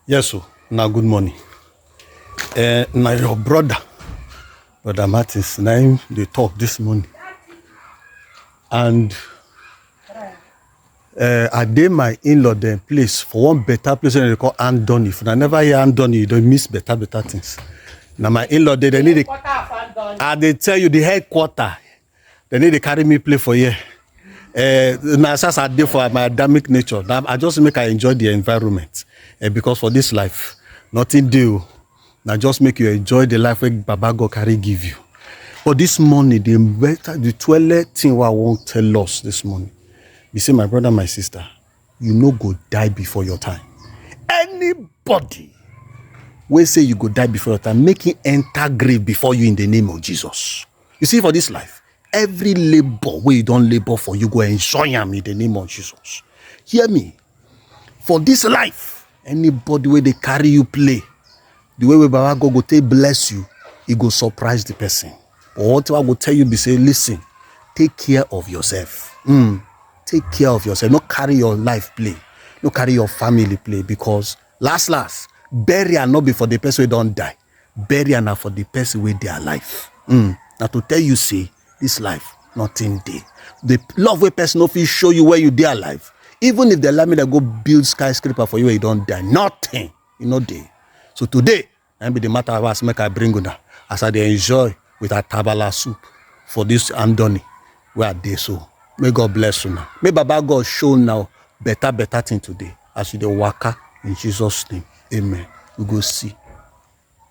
Yes, o. Na good morning. Uh, na your brother, brother Martins, na him dey talk this morning. And uh, I dey my in-law dem place for one better place wey dem dey call Andoni. If una never hear Andoni, you don miss better better things. Na my in-law dey, dem need dey. I dey tell you the headquarter They need to carry me play for here. Uh, na as I dey for my Adamic nature, na I just make I enjoy the environment. Uh, because for this life, nothing dey o. Na just make you enjoy the life wey Baba God carry give you. But this morning, the better, the twelve thing wey I wan tell us this morning be say, my brother, my sister, you no go die before your time. Anybody wey say you go die before your time, make him enter grave before you in the name of Jesus. You see, for this life, every labor where you don't labor for, you go enjoy am in the name of Jesus. Hear me. For this life, anybody where they carry you play, the way we Baba God go take bless you, he go surprise the person. But what I go tell you be say, listen, take care of yourself. Mm, take care of yourself. Not carry your life play. Not carry your family play because last last, burial not be for the person who don't die. Burial na for the person wey dey alive. Mm. Na to tell you say this life nothing dey. The love wey person no fit show you when you dey alive. Even if the allow me to go build skyscraper for you when you don die, nothing. You no dey. So today, na be the matter of us make I bring una as I dey enjoy with atabala soup for this andoni wey I dey so. May God bless you now. May Baba God show now better better thing today as you dey waka in Jesus name. Amen. We go see.